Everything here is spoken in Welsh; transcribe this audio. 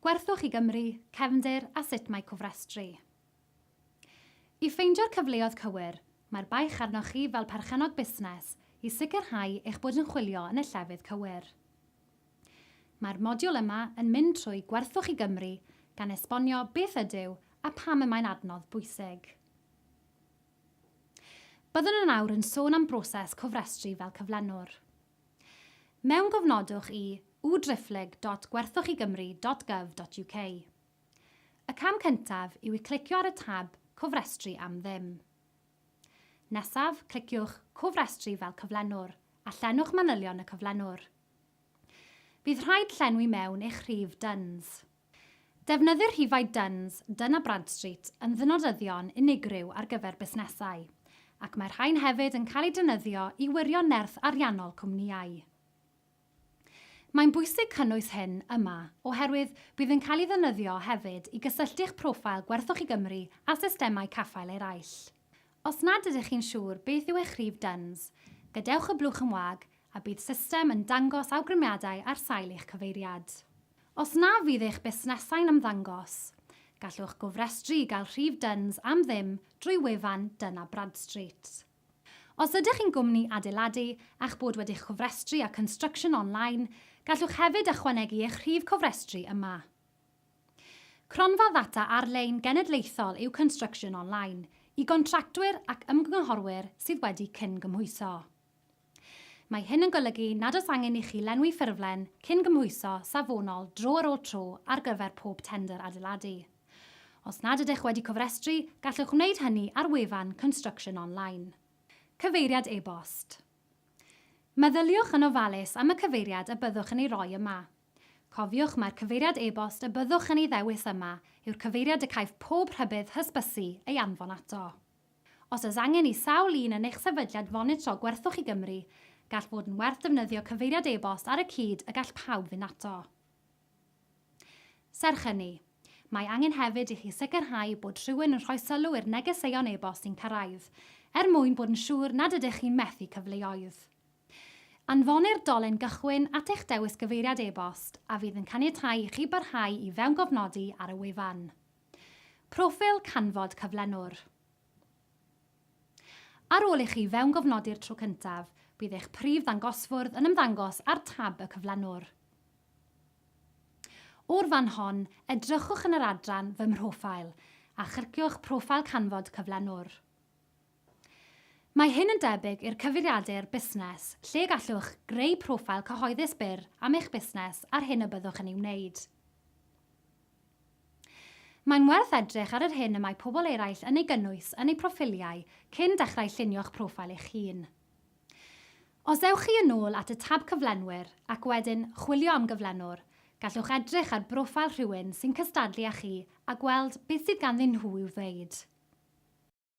Gwerthwch i Gymru, cefndir a sut mae cofrestru. I ffeindio'r cyfleoedd cywir, mae'r baich arnoch chi fel perchennog busnes i sicrhau eich bod yn chwilio yn y llefydd cywir. Mae'r modiwl yma yn mynd trwy Gwerthwch i Gymru gan esbonio beth ydyw a pam y mae'n adnodd bwysig. Byddwn yn awr yn sôn am broses cofrestru fel cyflenwr. Mewngofnodwch i www.gwerthochigymru dot gov dot uk. Y cam cyntaf yw i clicio ar y tab Cofrestru am ddim. Nesaf, cliciwch Cofrestru fel cyflenwr a llenwch manylion y cyflenwr. Bydd rhaid llenwi mewn eich rhif DUNS. Defnyddir rhifau Duns, Dun a Bradstreet yn ddynodyddion unigryw ar gyfer busnesau, ac mae'r rhain hefyd yn cael eu defnyddio i wirio nerth ariannol cwmnïau. Mae'n bwysig cynnwys hyn yma oherwydd bydd yn cael ei ddefnyddio hefyd i gysylltu'ch proffil Gwerthwch i Gymru â systemau caffael eraill. Os nad ydych chi'n siŵr beth yw eich rhif DUNS, gadewch y blwch yn wag a bydd system yn dangos awgrymiadau ar sail eich cyfeiriad. Os na fydd eich busnesau'n ymddangos, gallwch gofrestru i gael rhif DUNS am ddim drwy wefan Dun a Bradstreet. Os ydych chi'n gwmni adeiladu a'ch bod wedi'ch cofrestru â Construction Online, gallwch hefyd ychwanegu eich rhif cofrestru yma. Cronfa ddata ar-lein genedlaethol yw Construction Online i gontractwyr ac ymgynghorwyr sydd wedi cyn-gymhwyso. Mae hyn yn golygu nad oes angen i chi lenwi ffurflen cyn-gymhwyso safonol dro ar ôl tro ar gyfer pob tendr adeiladu. Os nad ydych wedi cofrestru, gallwch wneud hynny ar wefan Construction Online. Cyfeiriad e-bost. Meddyliwch yn ofalus am y cyfeiriad y byddwch yn ei roi yma. Cofiwch mai'r cyfeiriad e-bost y byddwch yn ei ddewis yma yw'r cyfeiriad y caiff pob rhybudd hysbysu ei anfon ato. Os oes angen i sawl un yn eich sefydliad fonitro gwerthwch i Gymru, gall fod yn werth defnyddio cyfeiriad e-bost ar y cyd y gall pawb fynd ato. Serch hynny, mae angen hefyd i chi sicrhau bod rhywun yn rhoi sylw i'r negeseuon e-bost sy'n cyrraedd, er mwyn bod yn siŵr nad ydych chi'n methu cyfleoedd. Anfonir dolen gychwyn at eich dewis gyfeiriad e-bost a fydd yn caniatáu i chi barhau i fewngofnodi ar y wefan. Proffil canfod cyflenwr Ar ôl i chi fewngofnodi'r tro cyntaf, bydd eich prif ddangosfwrdd yn ymddangos ar tab y cyflenwr. O'r fan hon, edrychwch yn yr adran Fy Mhroffil a chyrciwch Proffil Canfod Cyflenwr. Mae hyn yn debyg i'r cyfeiriadur busnes, lle gallwch greu proffil cyhoeddus byr am eich busnes a'r hyn y byddwch yn ei wneud. Mae'n werth edrych ar yr hyn y mae pobl eraill yn ei gynnwys yn eu proffiliau cyn dechrau llunio'ch proffil eich hun. Os ewch chi yn ôl at y tab Cyflenwyr ac wedyn Chwilio am Gyflenwr, gallwch edrych ar broffil rhywun sy'n cystadlu â chi a gweld beth sydd ganddyn nhw i'w ddweud.